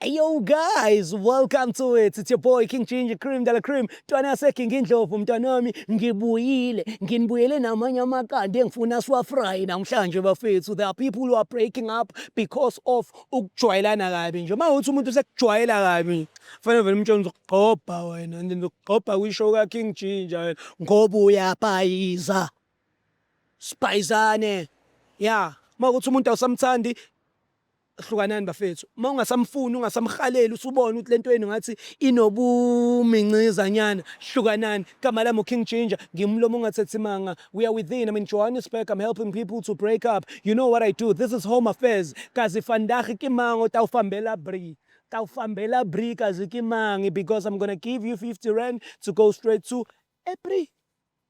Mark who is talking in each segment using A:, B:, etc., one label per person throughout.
A: Hey yo guys, welcome to it. It's your boy King Ginger Cream Dala Cream. Ntwana yaseGinga Indlovu mntwana wami, ngibuyile. Nginibuyele namanye amaqanda engifuna siwafry namhlanje bafethu. There are people who are breaking up because of ukujwayelana kabi nje. Uma uthi umuntu usekujwayela kabi, fanele vele umtshela ngizokugqobha wena, ngizokugqobha kwisho ka King Ginger wena ngoba uyapayiza. Sipayizane. Yeah, uma uthi umuntu awusamthandi hlukanani bafethu uma ungasamfuni ungasamhaleli usubona ukuthi lento yenu ngathi inobumincizanyana hlukanani igama lami uking ginger ngimlomo ongathethi manga we are within i'm in johannesburg i'm helping people to break up you know what i do this is home affairs kazi fandahi kimango tawufambela bri tawufambela bri kazi kimangi because i'm gonna give you 50 rand to go straight to ebri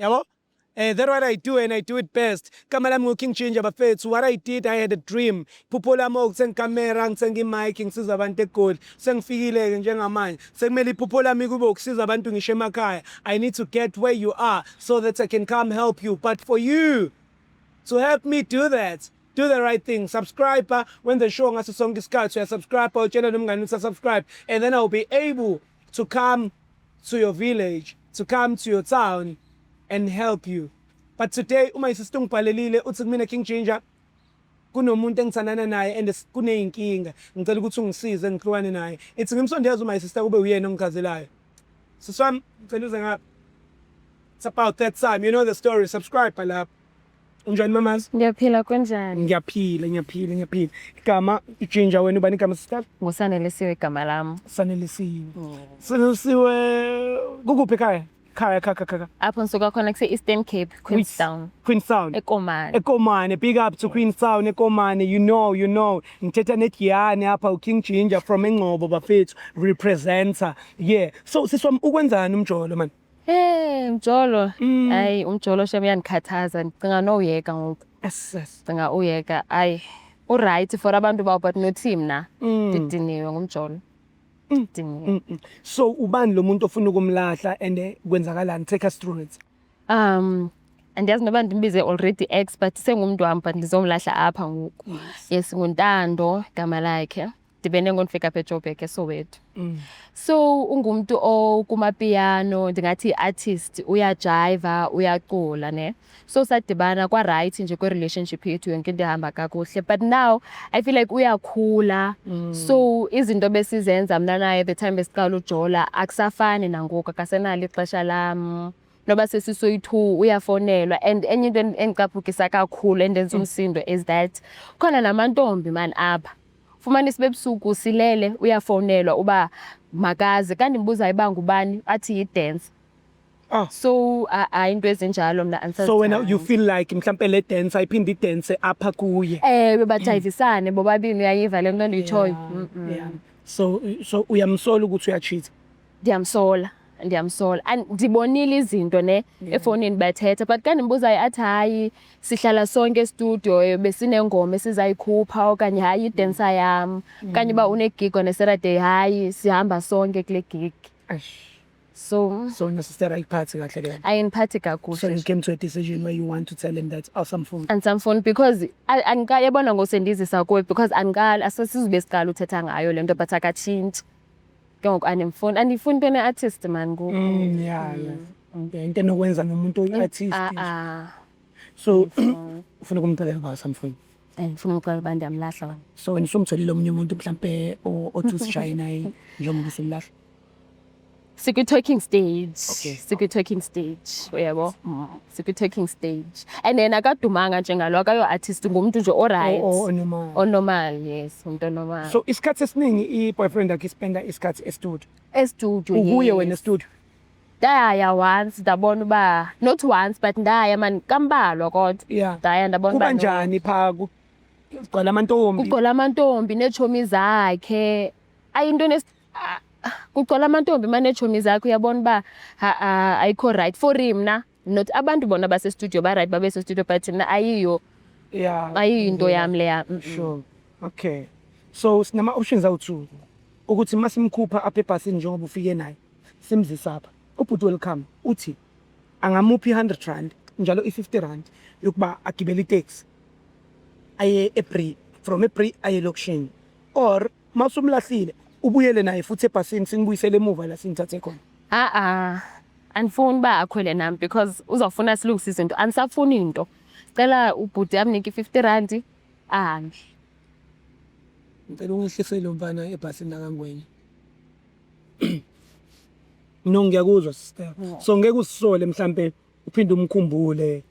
A: Yabo? Eh, that what I do and I do it best. Kama lami ngu-King Ginger bafethu. What I did, I had a dream. Phupho lami okuthenga ikamera, ngithenga i-mic, ngisiza abantu eGoli. Sengifikile-ke njengamanje. Sekumele iphupho lami kube ukusiza abantu ngisho emakhaya. I need to get where you are so that I can come help you. But for you to help me do that, do the right thing subscribe when the show ngaso sonke isikhathi uyasubscribe utshela nomngane ukuthi subscribe and then i'll be able to come to your village, to come to your town and help you. But today uma isister ungibhalelile uthi kumina King Ginger kunomuntu engithandana naye and kuneyinkinga ngicela ukuthi ungisize ngihlukane naye ithi ngimsondeza uma isister kube uyena ongichazelayo siswami ngicela uze ngapha it's about that time you know the story subscribe lapha Unjani mamazi? Ngiyaphila kunjani?
B: Ngiyaphila, ngiyaphila,
A: ngiyaphila. Igama ujinja wena ubani igama sister? Ngusanelisiwe igama
B: lami. Sanelisiwe. Mm.
A: Sanelisiwe kukuphi ekhaya? Khaya kha kha kha. Apho ngisuka
B: khona kuse Eastern Cape, Queenstown. Queenstown. Ekomane.
A: Ekomane, big up to Queenstown ekomane. You know, you know. Ngithetha neGiyane apha uKing Ginger from eNgcobo bafethu representer. Yeah. So siswa ukwenzani umjolo manje? Hey mjolo.
B: Mm. Hayi umjolo shem uyanikhathaza. Ngicinga no uyeka ngoku. Yes. Cinga
A: uyeka.
B: Hayi. U right for abantu bawo but no team na. Mm. Didiniwe ngumjolo. Mm. Didiniwe.
A: So ubani lo muntu ofuna ukumlahla and eh, kwenzakalani take us through it. Um
B: andiyazi noba ndimbize already ex but sengumntu wam but ndizomlahla apha ngoku yes nguntando igama lakhe ndibene ngonifika apha ejoburg esoweto mm. so ungumntu okumapiyano ndingathi i-artist uyajayiva uyacula ne so sadibana kwarayithi nje kwi-relationship yethu yonke into ehamba kakuhle but now i feel like uyakhula mm. so izinto besizenza mna naye the time besiqala ujola akusafani nangoku akasenalo ixesha lam noba sesisoyi-two uyafonelwa and enye into endicaphukisa kakhulu endenza mm. umsindo is that khona namantombi mani apha Fumanisa bebusuku silele uyafonelwa uba makaze kanti ngibuza ibanga ubani athi yi-dance. Ah. So a- hayi into ezinjalo mna andisazi so wena cha. you feel like
A: mhlampe le dance ayiphinde idance apha kuye Ewe bajayivisane
B: bobabini uyayiva le nto endiyitshoyo. Mm-mm. so
A: so uyamsola ukuthi uyachitha ndiyamsola
B: ndiyamsola and ndibonile izinto ne yeah. efowunini bathetha but ka ndimbuzayo athi hayi sihlala sonke estudio eh, besinengoma esizayikhupha okanye hayi idensa mm. yam mm. kanye uba unegig on a saturday hayi sihamba sonke kule gig so so your sister
A: ayiphathi kahle ke ayiniphathi kakuhle so
B: you came to a
A: decision
B: where
A: you want to tell him that awusamfuni oh, andisamfuni because
B: andiqali yabona ngosendizisa kuwe because andiqali asesizobe siqala uthetha ngayo le nto but akatshintshi ke ngoku andimfuni andiyifuni into ene-artist mani ngoku Mm, yeah, yeah.
A: Okay, into enokwenza nomuntu oyi-artist Ah, ah. so ufuna ukumcelela kwasa mfuni Eh, ndifuna umxela
B: uba ndiyamlahla wena so wena usumtholile omunye
A: umuntu mhlampe o- othi usishaye naye njengoba usulahla
B: sikwi-talking stage Okay. sikwi-talking
A: stage
B: uyabo sikwi-taking stage and then akadumanga njengalo akayo-artist ngumntu nje oright O- o- onormal. onormal
A: yes
B: umntu onormal so isikhathi esiningi
A: i-boyfriend yakhe ispenda isikhathi estudio estudio ukuye
B: yes. wena estudio
A: ndaya
B: once ndabona uba not once but ndaya mani kambalwa kodwa Yeah. ndaya ndabona kuba
A: uba no. njani
B: pha
A: ku- kugcwala amantombi kugcwala amantombi
B: neetshomi zakhe ayinto kugcwala amantombi manechomi zakho uyabona uba ayikho right for mna not abantu bona basestudio baright babesestudio but mna ayiyo yeah. ayiyo
A: into yeah. yami
B: leya mm -mm. sure.
A: okay so sinama-options awu-two ukuthi uma simkhupha apha ebhasini njengoba ufike naye simzisa apha ubhuti welcome uthi angamuphi i-hundred rand njalo i-fifty rand yokuba agibele itaxi aye ebri from ebri aye elokishini or uma usumlahlile ubuyele naye futhi ebhasini sinibuyisele emuva la sinithathe khona a-a andifuni
B: uba akhwele nami because uzawufuna silungise izinto andisafuni into cela ubhuti amnike i-fifty randi ahambe
A: ngicela ungehlise lo mfana ebhasini lakangwenya no ngiyakuzwa sister so ngeke usisole mhlampe uphinde umkhumbule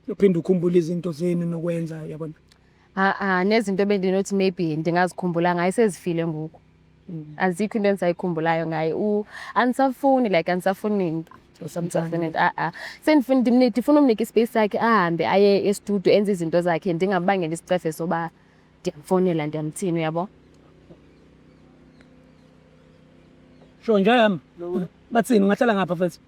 A: uphinde ukhumbule izinto zenu nokwenza yabona Ah, ah,
B: nezinto ebendinothi maybe ndingazikhumbula ngaye sezifile ngoku mm. azikho into endisayikhumbulayo ngaye andisafuni like andisafuni nto samsafuni a-a ah, sendifuna ndifuna umnika ispace sakhe ahambe aye estudio enze izinto zakhe ndingambangela isicefe soba ndiyamfonela ndiyamthini uyabo
A: sho njayam bathini ungahlala ngapha futhi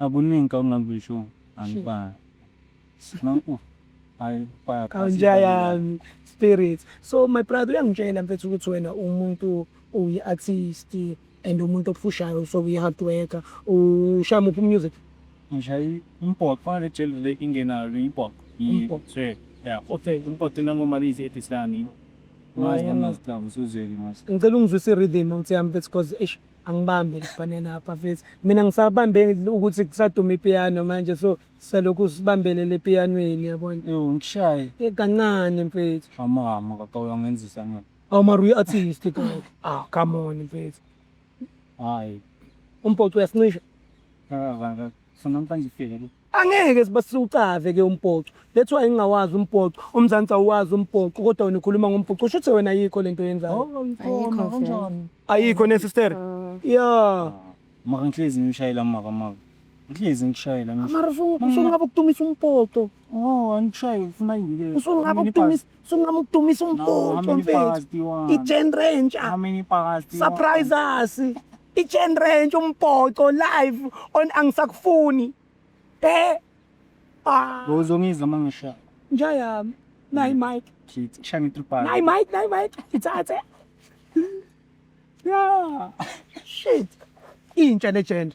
C: Akuningi ongakusho angibali. Nanku hayi baya. Kanja yami
A: spirit. So my brother uyangitshela mfethu ukuthi wena umuntu uyi artist and umuntu opfushayo so uyi hard worker. Ushaya muphi music? Ngishayi
C: umbhoxo fanele jeli le ingenayo le imbhoxo. Umbhoxo. Yeah. Okay. Umbhoxo nangoma lizi etisani. Ngicela
A: ungizwise rhythm ukuthi yami mfethu cause eish angibambe lifanele apha mfethu mina ngisabambe ukuthi kusaduma ipiano manje so salokhu sibambelele epiyanweni yabona Yo, ngishaye. Eh,
C: kancane
A: mfethu Mama, mama, kaka
C: uyangenzisa na. awu mara uyi-artist
A: kanti ah come on mfethu Hayi.
C: umpoco
A: uyasincisha Kaka, kaka. So namhlanje
C: ifike. Angeke
A: sibasucave ke umbhoxo. That's why ngingawazi umbhoxo. UMzansi awuwazi umbhoxo kodwa wena ukhuluma ngombhoxo. Usho ukuthi wena ayikho lento yenzayo. Oh, ngikona
C: kanjani? Ayikho ne sister.
A: Yeah. Maka ngihlezi
C: ngishayela maka maka. Ngihlezi ngishayela. Mara usungabe
A: ukudumisa umbhoxo. Oh, angishayi
C: ufuna yini ke? Usungabe ukudumisa
A: Sungama ukudumisa Now, how umbutho many mfethu powers do you want? i-gen ranger How many powers do you want?
C: surprise us
A: i-gen ranger umbhoxo live on angisakufuni eh
C: ah Bowuzongizwa uma ngishaya. nja yami
A: nayi mike Shit, kushaye nge-three powers.
C: nayi mike nayi mike
A: ithathe Yeah. shit intsha legend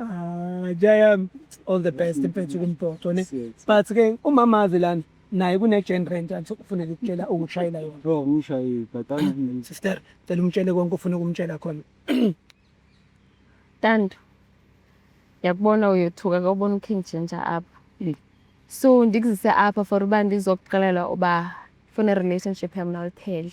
C: Ah, Jaya,
A: all the best mfethu kumbhoxo ne. But ke umama azi lana naye kune gen rent athi ufuneka ukutshela ukushayela yona. Bro, umshayile but
C: angimini. Sister, cela
A: umtshele konke ufuna ukumtshela khona.
B: Tando. Yakubona uyothuka kawubona uKing Ginger apha. Mm. So ndikuzise apha for uba ndizokuxelela uba funa relationship yam naliphele.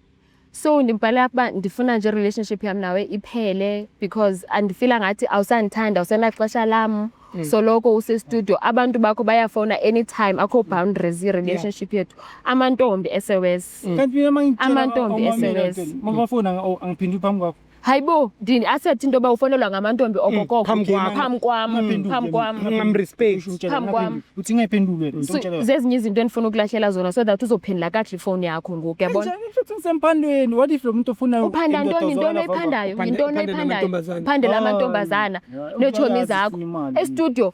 B: so ndimbhalela ukuba ndifuna nje relationship yam nawe iphele because andifila ngathi awusandithanda awusenaxesha lam mm. soloko usestudio abantu bakho bayafona anytime akho boundaries i-relationship yethu amantombi esews mm.
C: amantombi esews
B: mm.
C: hayibo ndini
B: asethi into yoba ufonelwa ngamantombi Mm, okokoko phambi kwam. phambi kwam
A: Ungaphenduli, phambi kwam
B: ungaphenduli. Ungamrespect. Usho umtshela, Phambi
A: kwam. ungaphenduli. uthi
B: ngayiphendulwe So, ngizomtshela
C: yona. zezinye izinto endifuna
B: ukulahlela zona so that uzophendula kakuhle ifowuni yakho ngoku yabona Kanjani futhi ngisemphandweni
C: what if lo muntu ofuna uphanda indoda ntoni yintoni ozwakala vava?
B: oyiphandayo Uphande- yintoni uphandela oyiphandayo amantombazane. phandela Ah, amantombazana yeah, neetshomi uyazi zakho ufuna imali. estudio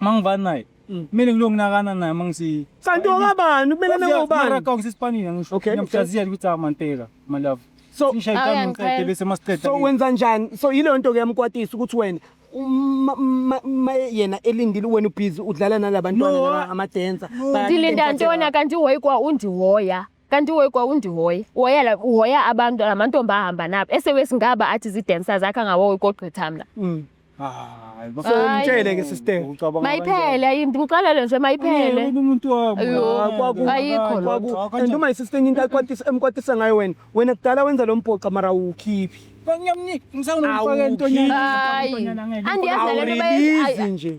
C: Mangivani naye. Mm. Mina ngilonginakana naye mangisi. Kanti wakabani
A: kumele nake ubani? Mara kawngisi Spanish
C: ngisho. Okay. Ngiyamjazia ukuthi amanteka my love. So ngishayitana
A: ngiqede bese
C: masiqede. So wenza njani? So
A: yile nto ke yamkwatisa ukuthi wena yena elindile wena ubhizi udlala nalabantwana laba amadensa. Ndilinda ntona
B: kanti uhoyikwa undihoya. Kanti uhoyi kwawundihoya. Uhoya la uhoya abantu lamantombi ahamba nabo. Esewesi ngaba athi zi-dancers akha ngawoyi kogqitha mna.
C: Mm. Hayi, So Hayi. umtshele
A: ke sister. ucabanga Mayiphele ayi
B: ndimxelele nje mayiphele. Yini umuntu wami. Ayo,
C: Ah, kwaku- ayikho
B: loo nto. Kwaku- and uma
A: isister into ayikwatisa- emkwatisa ngayo wena wena kudala wenza lo mpoxa mara uwukhiphi Ngiyamnika
C: ngisawumfaka entonyana. Hayi.
B: Andiyazi nale nto bayenza. awurilizi nje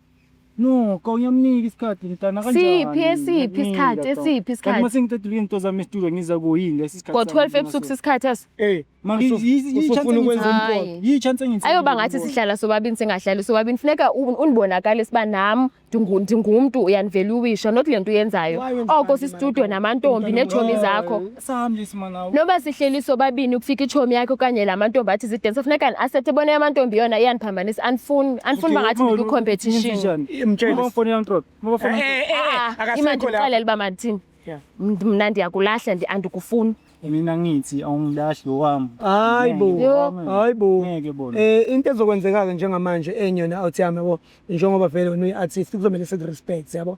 A: Nokho
C: uyamnika isikhathi mntana kanjani? Siphi esiphi isikhathi
B: esiphi isikhathi? Kanti masengicedile into
C: zami estudio ngiza kuyini lesi sikhathi? Ngo 12 ebusuku sisikhathi
B: eso. Eh, manje
A: yichance ukwenza umqondo. Yichance ngithe. Ayoba
C: ngathi sihlala
B: sobabini singahlali sobabini funeka unibonakale siba nami ndingumntu uyanivela uwisha not lento uyenzayo. Oko sistudio namantombi neetshomi zakho.
C: noba sihleli
B: sobabini ukufika itshomi yakhe okanye la mantombi athi zidensa funeka ndiasethe bona yamantombi yona iyandiphambanisa andifuni andifuni uba ngathi ndikwicompetition
C: imandixelele
B: uba mandithini mna ndiyakulahla andikufuni mina ngithi
C: awungilahli wami hayi bo
A: hayi bo ngeke bona
C: eh into ezokwenzeka-ke
A: njengamanje enye yona awuthi yami yabo njengoba vele wena uyi-artist kuzomele sikurespect yabo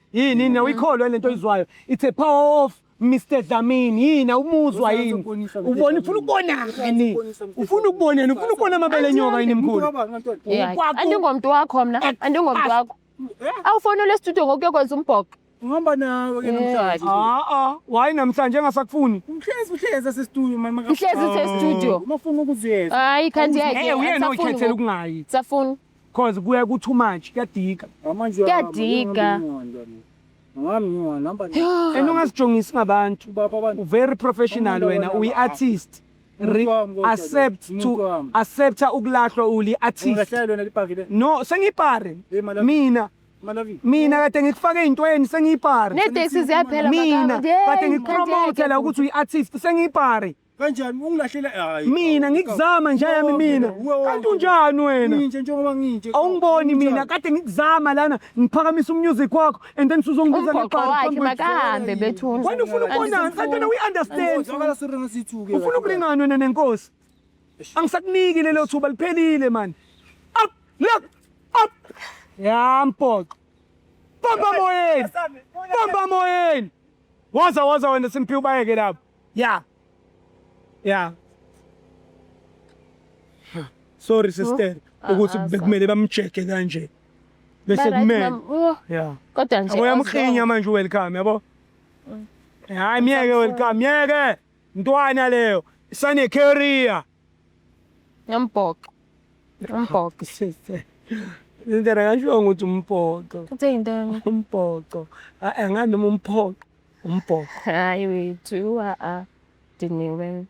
A: Yini yini uyikholwa lento oyizwayo. It's a power of Mr Dlamini. Yini awumuzwa yini? Ubona ufuna ukubona yini? Ufuna ukubona yini? Ufuna ukubona amabele enyoka yini mkhulu? Yeah. Ukwakho-
B: Andingomntu wakho mna, andingomntu wakho. Awufonele estudio ngokuyokwenza umbhoxo. Ngihamba
C: nawe ke namhlanje. Ah ah, why
A: namhlanje engasakufuni? Mhlezi mhlezi
C: asestudio mama. Mhlezi usestudio.
B: Uma ufuna ukuziyeza.
C: Hayi kanti yake.
B: Eh uyena oyikhethela
A: ukungayi. Safuna. Cause
B: kuya ku
A: too much kuyadika. Amanje Kuyadika.
C: Ngami ngiwa number nine. And ungazijongisi
A: ngabantu. Baba abantu. U very
C: professional Umuntu
A: wena wena uyi baba. artist. Re- Umuntu wami kodwa accept lo. to Umuntu wami. accepta ukulahlwa uli artist. Ungahlala lona lipakile.
C: No sengipare.
A: Hey, Malawi. Mina
C: Malawi. mina
A: kade ngikufake eyintweni sengiyipare. Neteksi ziyaphela
B: mina makamu. kade
A: ngikupromotela ukuthi uyi-artist sengiyipare Kanjani ungilahlela
C: hayi. Mina ngikuzama
A: nje yami mina. Kanti unjani wena? Nginje njengoba nginje.
C: Awungiboni mina kade
A: ngikuzama lana ngiphakamisa umusic wakho and then usongibiza ngeqala. Wakhe
B: makahambe bethu. Wena ufuna ukubonana
A: kanti wena uyi understand.
C: Ufuna ukulingana wena
A: nenkosi. Angisakuniki lelo thuba liphelile man. Up look up. Ya mpoqo. Bomba moyeni. Bomba moyeni. Waza waza wena simphiwe bayeke lapho. Yeah. Yeah. Sorry sister Ah, ukuthi ah, bekumele bamjeke kanje. Bese Ba-right, kumele. ma'am. Oh, Yeah. kodwa nje
B: Uyamkhinya manje welcome
A: yabo. Hayi myeke welcome myeke. Ntwana leyo. Sane career.
B: Umbhoxo.
A: Umbhoxo. Indlela ngashiwo ukuthi umbhoxo. Uthe yintoni?
B: Umbhoxo.
A: Hayi ngani noma umphoxo. Umbhoxo. Hayi wethu
B: a a diniwe.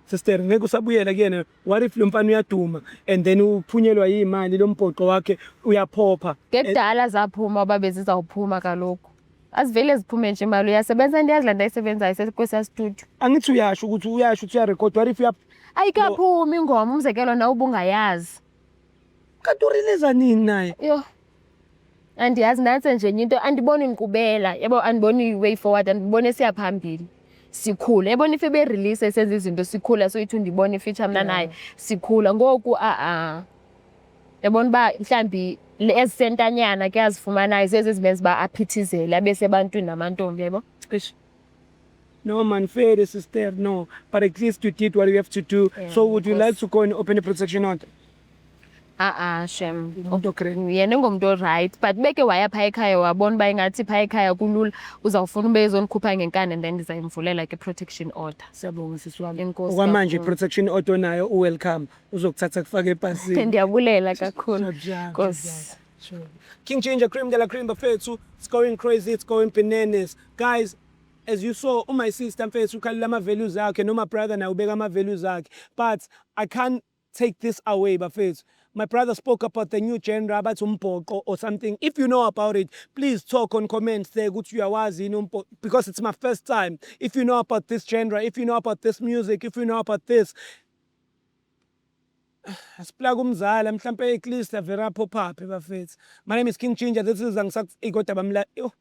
A: Sister ngeke usabuyela kuyena. What if lo mfana uyaduma and then uphunyelwa yimali lo mbhoxo wakhe uyaphopha. Ngekudala
B: zaphuma babe zizawuphuma kaloku. azivele ziphume nje mali uyasebenza into yazi le nto ayisebenzayo sekwesiya studio angithi uyasho ukuthi
A: uyasho ukuthi uyarekhoda what if uya ayikaphumi
B: ingoma umzekelo nawe ubungayazi kanti
A: uriliza nini naye yho
B: andiyazi nantse nje enye into andiboni nkqubela yabo andiboni i-way forward andiboni esiya phambili sikhula yabona if eberelease esenza izinto sikhula so ithi undibona ifitsha mna naye sikhula ngoku a-a Yabona uba mhlawumbi ezisentanyana ke azifumanayo zezi ezimenza uba aphithizele abe sebantwini namantombi yebo cishe
A: No man, fair sister, no. But at least you did what you have to do. Yeah, so would you like to go and open a protection order? a-a ah, shem
B: yena engomntu oright but beke waya phaa ekhaya wabona uba ingathi phaa ekhaya kulula uzawufuna uba ezonikhupha ngenkani and then ndizayimvulela ke protection order siyabonga sisi wam
A: okwamanje i-protection order onayo uwelcome uzokuthatha kufaka epasini ndiyabulela kakhulu
B: nkosi King
A: Ginger Cream de la Cream bafethu it's going crazy it's going bananas guys as you saw oh my sister mfethu ukhalela ama values akhe noma brother naye ubeka ama values akhe but i can't take this away bafethu my brother spoke about the new genre abathi umbhoqo or something if you know about it please talk on comments there ukuthi uyawazi yini umbhoqo because it's my first time if you know about this genre if you know about this music if you know about this Asiplake umzala mhlampe at least avere aphophaphe bafethu. My name is King Ginger this is angisakufiki kodwa bamla yoh.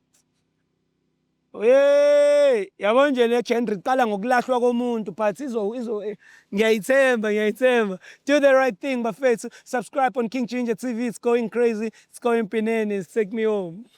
A: Hey yabo nje le genre iqala ngokulahlwa komuntu but izo izo eh, ngiyayithemba ngiyayithemba. Do the right thing bafethu. Subscribe on King Ginger TV it's going crazy it's going pinene it's take me home.